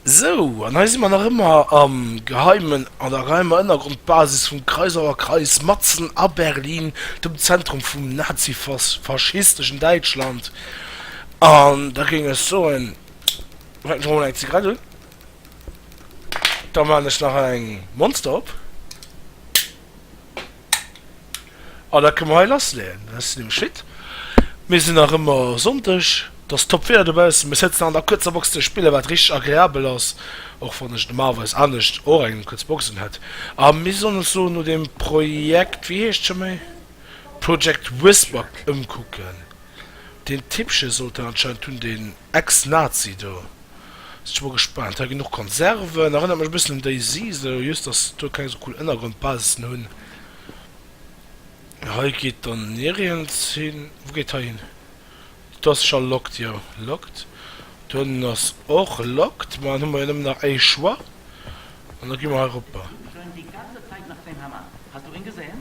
Sou, an hei si mer nach ëmmer am geheimen, an der geheimer Ënnergrondbasis vum Kreisauer Kreis, matzen a Berlin, dem Zentrum vum nazi-faschisteschen Däitschland. An da géing ech soen, fänken ech mol un eng Zigarett un, da man ech nach eng Monster op. An dat kënne mer hei lassleeën. Dann ass se nämlech fit. Mir sinn nach ëmmer Sonndeg. Et ass top Wieder dobaussen. Mir sëtzen an der kuerzer Box ze spillen, wat richteg agreabel ass, och wann ech normalerweis anescht och eng kuerz Boxen hätt. A mir sollen ons elo no deem Projekt, wéi heescht et scho méi? Project Whisper ëmkucken. Deen Tippche sollt en anscheinend hunn, deen Ex-Nazi do. Sin scho mol gespaant, hei gin och Konserven, erënnert mech e bëssen un DayZ esou, jhust dass se do keng sou cool Ënnergrondbasisen hun. Hei geet dann nirjens hin, wou geet hei hin? Do ass scho locked, jo locked, do hannen ass och locked, ma dann hu mer jo nëmmen nach éi Choix an da gi mer hei eropper. Schön die ganze Zeit nach den Hammer. Hast du en gesehen?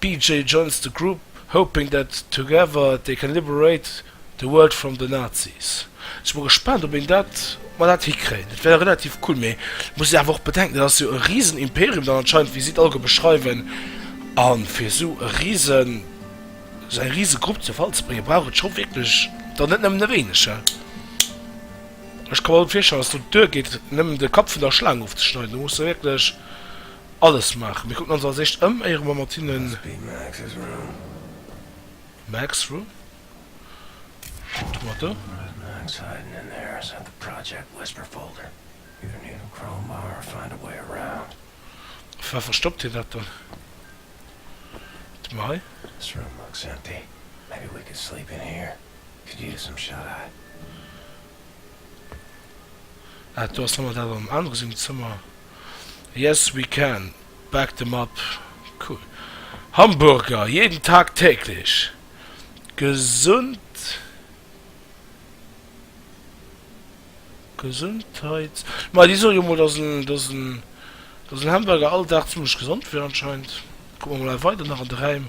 BJ joins the group hoping that together they can liberate the world from the Nazis. Sinn mol gespaant op een dat, ob mer dat hikréien. Dat wär relativ cool, mee et muss een awer och bedenken, dat ass jo e riesen Imperium dann anscheinend, wéi si et alleguer beschreiwen. A fir esou e riesen, esou eng riese Grupp zu Fall ze bréngen, brauch et scho wierklech dann net nëmmen e wéineg, he? Ech ka mer gutt virstellen, dass do d'Duer geet, nëmmen de Kapp vun der Schlaang ofzeschneiden. Do muss de wierklech Alles maachen. Mir kucken ons als éischt ëm éiere mer mat hinnen. Max Room? Kucke mer do. Wou verstoppt hien dat dann? Kucke mer hei. Ah do ass nemme dat an anere sengem Zëmmer. Yes we can back them up cool Hamburger jeden Tag täglich gesund Gesundheits ma déi soen jo mol dass en dass en dass en Hamburger all Dag zimmlech gesond wier anscheinend kucke mer mol weider nach an de Räim.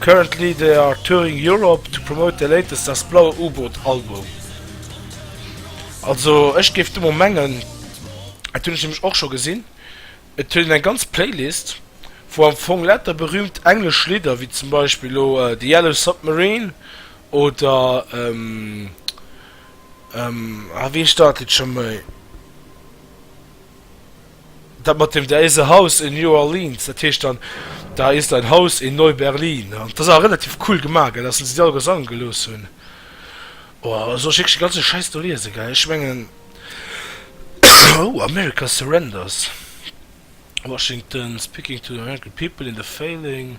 Currently they are touring Europe to promote their latest Das blaue U-Boot Album. Also ech géif do mol mengen, dat hunn ech nämlech och scho gesinn, et huet een eng ganz Playlist wou am Fong lauter berüümt englesch Lidder wéi zum Beispill elo The Yellow Submarine oder ah wéi heescht dat Lidd scho méi? Dat mat dem, da is e Haus in New Orleans, dat heescht dann, da ist ein Haus in Neu-Berlin. An dat ass awer relativ cool gemaach, gell, dass se déi all gesangen gelooss hunn. Oh, soll ech wierklech de ganze Schäiss do liesen, gell? Ech mengen, oh, America surrenders, Washington speaking to the American people in the failing.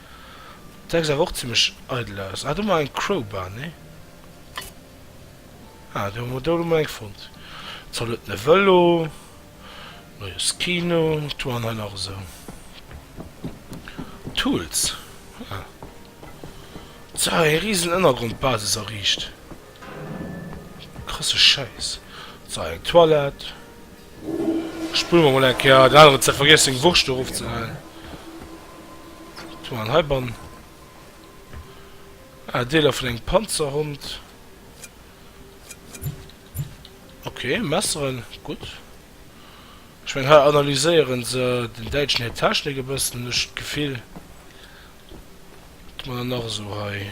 Sech awer och zimlech eidel aus. Ah do mar eng Crowbar, nee? Ah do mar do hu mer eng fonnt. Zalot e Velo, neue Skino, wat hu mer hei nach esou? Tools, ah so eng riesen Ënnergrondbasis erriicht. Krasse Schäiss. So eng Toilette. Spullen mer mol eng Kéier. Den hat awer vergiess seng Wurscht do erof ze leien. Wat hu mer dann heibann? Ah, Deeler vun engem Panzerhond. Ok, Messeren, gutt. Ech mengen hei analyséieren se den Däitschen hir Technik e bëssen, hunn ech d'Gefill. Wat hu mer dann nach esou hei?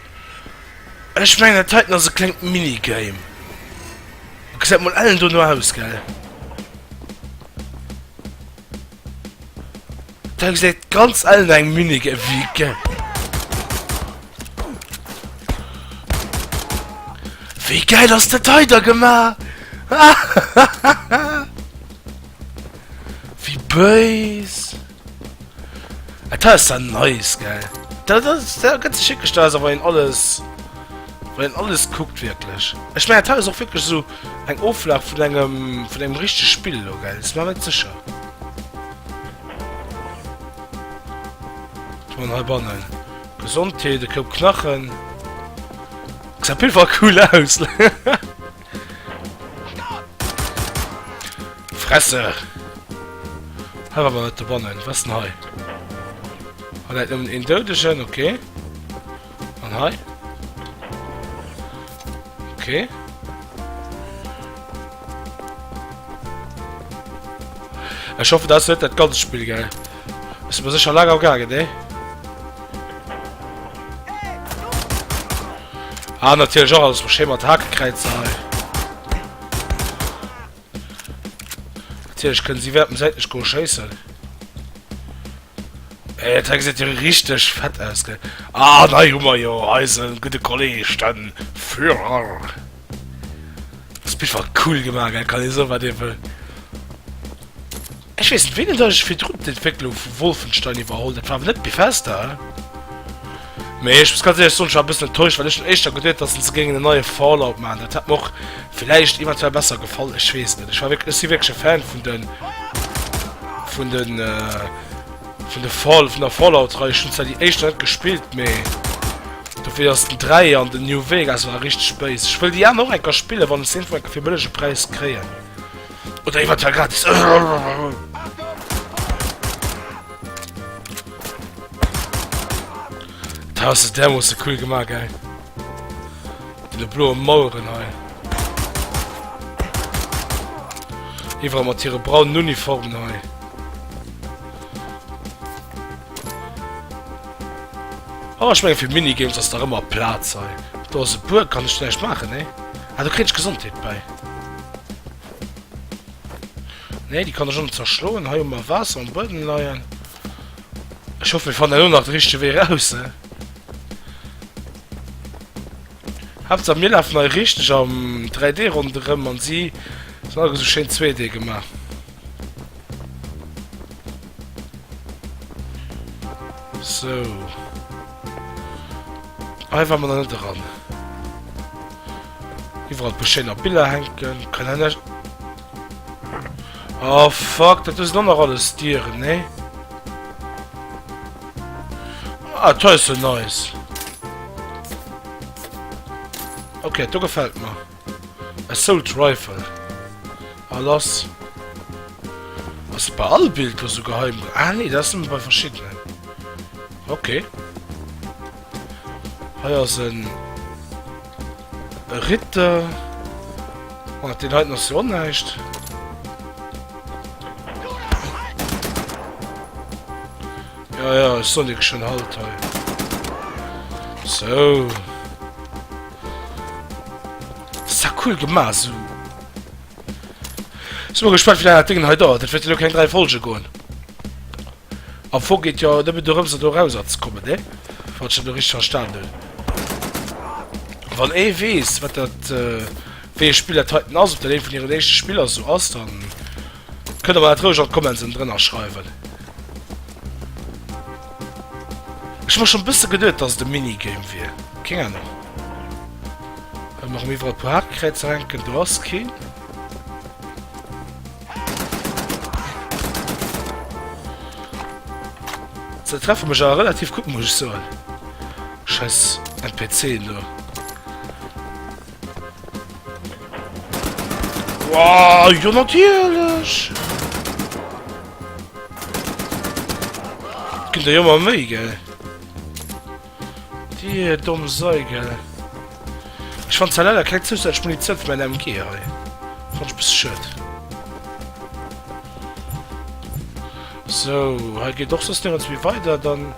Ech mengen dat heiten ass e klengt Minigame. Gesäit mol ellen dono aus, gell? Dat gesäit ganz ellen no engem Minigame wéi ge... Wéi gäil ass dat hei da gemaach? Wéi bëis! Et ah, ass dann nice, gell? Da, da, da gëtt sech wierklech, da ass awer een alles, wann een alles kuckt, wierklech. Ech mengen, et ass och wierklech esou eng Oflag vun engem, vun engem richtege Spill elo, gell? Sinn mer net sécher. Wat hu mer hei bannen? Gesondheet, e Koup Knachen. Gesäit op jidde Fall cool aus! Fresse! Hei war wat dobannen. Was denn hei? Hat dat nëmmen een Doudegen? Okay. An hei? Okay. Ech hoffe, dat ass net dat ganzt Spill, gell? Bist mir sicher lager gaangen, ne? Ah, natürlich auch alles Schema und Hakekreuzer. Natürlich können sie werden seit nicht scheißen. Ey, das sieht ja richtig fett aus, gell? Ah, nein, Hummer, jo, Eisen, gute Kollege, dann Führer. Das Bild war cool gemacht, gell? Kann ich so was eben. Ech weess net wéini datt ech virdrun d'Entwécklung vu Wolfenstein iwwerholl, dat war awer net Bethesda? Mee ech muss ganz éierlech soen, ech war e bëssen enttäuscht, well ech hunn éischter geduet, datt se géingen en neie Fallout maachen, dat hätt mer och villäicht eventuell besser gefall, ech weess net. Ech war wierklech, ech si wierklech e Fan vun de vun de vun de Fall vun der Fallout-Rei, ech hunn zwar déi éischt nach net gespillt, mee dofir ass den Dräier an den New Vegas waren richteg béis. Ech wëll déi aner och eng Kéier spillen, wann ech se iergendwou eng Kéier fir e bëllege Präis kréien. Oder iwwert der Grenz. Da hast du der muss du cool gemacht, geil. Die blaue Mauern, ey. Iwwer mat hire braunen Uniformen, ey. Oh, ich meine, für Minigames ist da immer Platz, ey. Da ist ein Burg, kann ich vielleicht machen, ey. Ah, do kritt ech Gesondheet bäi. Nee, déi kann ech ënnen zerschloen. Hei hu mer Waasser am Buedem leien. Ech hoffe mir fannen elo nach de richtege Wee raus. Haaptsaach mir lafen hei richteg am 3D ronderëm an si sinn alleguer esou schéin 2D gemaach. So. Hei war man net dran. Iwwer beschéiner Biller henken, kann en net. Oh fuck, dat is dann noch alles Dieren, ne? Ah, to is so nice. Okay, du gefällt mir. Assault Rifle. Ah lass. Ass et bei all Bild lo sou geheim? Ah nee, dat ass nëmme bei verschiddenen. Okay. Hei ass en Ritter. Oh, den heiten ass jo näischt. Ja, ja, Sonic schon halt hei. So. Sa cool gema su. Si mer gespannt wéi laang dat Ding hei dauert. Dat wäert jo lo keng 3 Folge goen. Am Fong geet jo nëmmen dorëms et erauser ze kommen, ne? Wann ech dat lo richteg verstanen hunn. Wann ee weess wat dat, wéi ee Spill dat heiten ass, ob dat eent vun hiren éischte Spiller sou ass, dann. Kënnt der mer dat roueg an d'Comments ënnendrënner schreiwen. Ech hun mer schon bësse geduet dass et e Minigame wier. Keng Ahnung. Ëm erëm iwwerall puer Hakenkräizer hänken. Do ass keen. Se treffe mech awer relativ gutt muss ech soen. Scheiss NPCen do. Wow, jo natierlech! Gëtt der jo ëmmer méi, gell? Dir domm Sei, gell? Ech fann zwar leider keng zousätzlech Munitioun fir mäin MG hei. Fann ech e bësse schued. So, hei geet och soss nirgends méi weider, dann...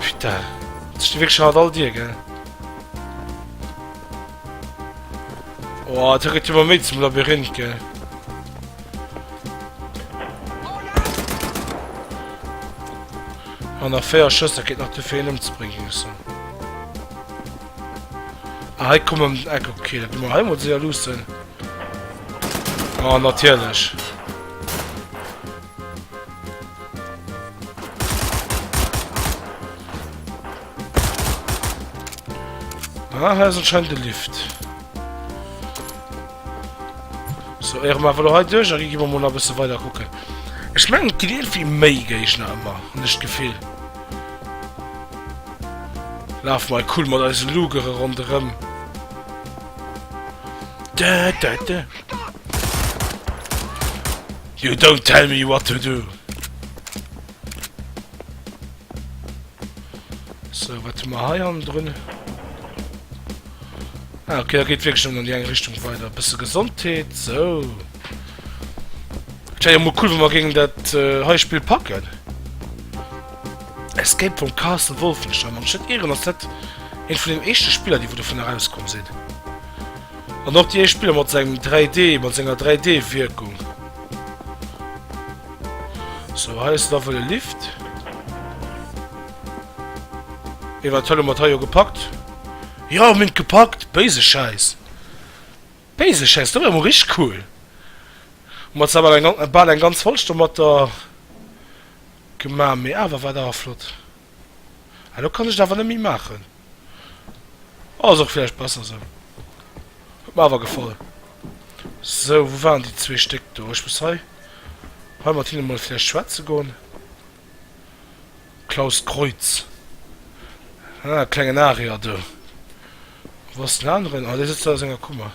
Putain. Das ist wirklich hart all dir, gell? Oh, da geht immer mit zum Labyrinth, gell? Und nach vier Schüsse geht noch zu viel umzubringen. So. Ah, hei kommen um den Eck, okay, dat immer hei mod se ja lussen. Ah, natierlech. Ah, hei ist anscheinend der Lift. So, ehren wir einfach heute durch, dann gehen wir mal ein bisschen weiter gucken. Ich meine, die irgendwie mehr Gegner immer, nicht das Gefühl. Laf mei cool mat eise Lugere ronderem. Da da da. You don't tell me what to do. So, wat ma hei an drun? Ah, okay, da geht wirklich schon in die eine Richtung weiter. Ein bisschen Gesundheit, so. Tja, ja, mal cool, wenn wir gegen das äh, Heuspiel packen. Escape from Castle Wolfenstein, wann ech net ieren ass dat eent vun den éischte Spiller déi wou dovun erauskomm sinn. An och déi éischt Spiller mat sengem 3D, mat senger 3D Wierkung. Sou hei ass et awer e Lift. Mee wat hëlle mer et hei jo gepackt. Jo mir hunn et gepackt! Béise Schäiss! Béise Schäiss! Dat war emol richteg cool! Hu mer zwar bal eng ganz Folg domatter. Gemaach, mee awer war et awer flott. Elo kann ech et awer net méi maachen. Ass och vläicht besser esou. Huet mer awer gefall. Sou, wou waren déi zwee Stéck do? Ech muss hei hei mat hinne mol vläicht schwätze goen. Klaus Kreutz. Ah, klengen Aria do. Wou ass den aneren? Ah, dee sëtzt do a senger Kummer.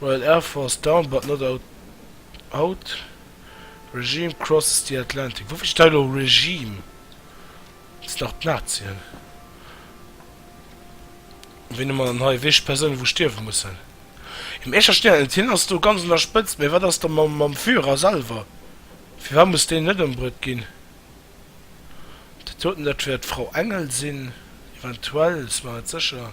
Royal Air Force down but not out, Regime crosses the Atlantic. Woufir steet hei elo Regime? Sinn nach d'Nazien? Wéi nennt mer dann hei wichteg Persounen, wou stierwe mussen? Im Escher Stern, et hien ass do ganz un der Spëtzt, mä wat ass da mam Führer selwer? Firwat muss deen net ëmbruet ginn? D'Toten, dat wäert d'Frau Engel sinn, eventuell, si mer net sécher.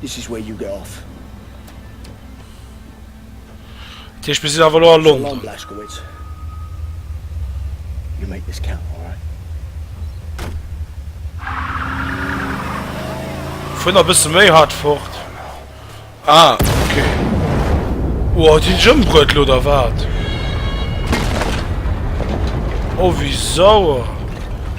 This is where you get off. Dat heescht, mir sinn awer elo a London. Alarm, Blazkowicz. You make this count, all right? Fuer nach e bësse méi hart fort. Ah, okay. Oh, hat hien ëmbruet lo, oder wat? Oh, wéi sauer.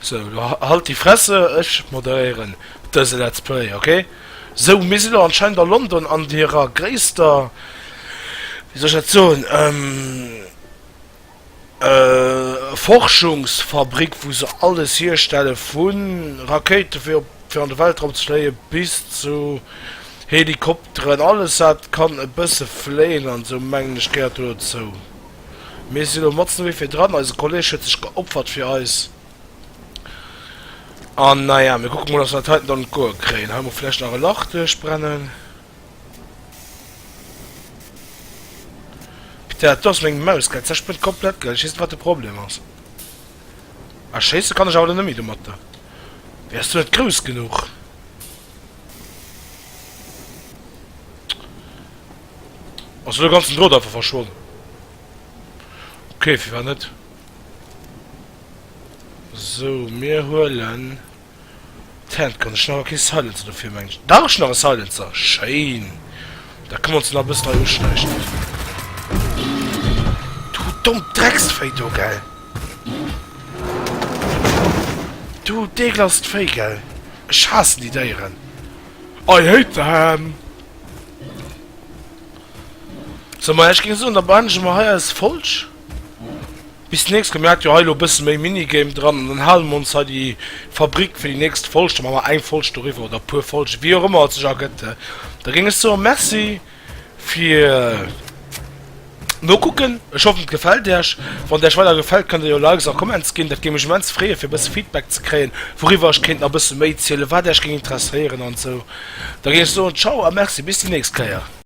Sou, lo halt déi Fresse, ech moderéieren dëse Let's Play, ok? Sou, mir si lo anscheinend a London an hirer gréisster, wéi soll ech dat soen, Forschungsfabrik, wou se alles hierstelle vu Rakéite fir op, fir an de Weltraum ze fléie bis zu Helikopteren, alles wat kann e bësse fléien an esou, mengen ech gehéiert do dozou. Mir si lo matzen ewéi fir dran, eise Kolleg huet sech geopfert fir eis an naja, mir kucke mol, dass mer dat heiten dann un d'Goe kréien. Hei mol vläicht nach e Lach duerchbrennen. Peter, dat do ass meng Maus, gell? D'Säch brënnt komplett, gell? Ech weess net, wat de Problem ass. Ah, schéisse kann ech awer lo net méi domatter. Wéi, ass d'Sou net grouss genuch? Ass elo ganzen Drot einfach verschwonn. Ok firwat net. Sou mir huelen d'Hand Gun. Ech hun awer kee Silencer dofir mengen ech. Dach ech hun nach e Silencer. Schéin. Da kommen se nach e bëssen hei uschneichen. Du dommt Drecksvéi do gell. Du deeglast Véi gell. Ech haassen déi Déieren. I hate them. So ma ech ging soen da beendege mer hei eis Folg bis den nächsten. Mer hat jo hei lo e bëssen méi Minigame dran an dann hale mer ons hei déi Fabrik fir déi nächst Folg. Da man mer eng Folg doriwwer oder e puer Folgen wéi och ëmmer et sech ergëtt. Da ging ech soen merci fir. No kucken, ech hoffen et gefält iech. Wann et iech weider gefält kënnt der jo Likes a Comments ginn, dat géing mech immens freeën fir e bësse Feedback ze kréien wouriwwer ech kéint nach e bësse méi zielen, wat iech géing interesséieren an esou. Da géing ech soen ciao a merci bis déi nächst Kéier.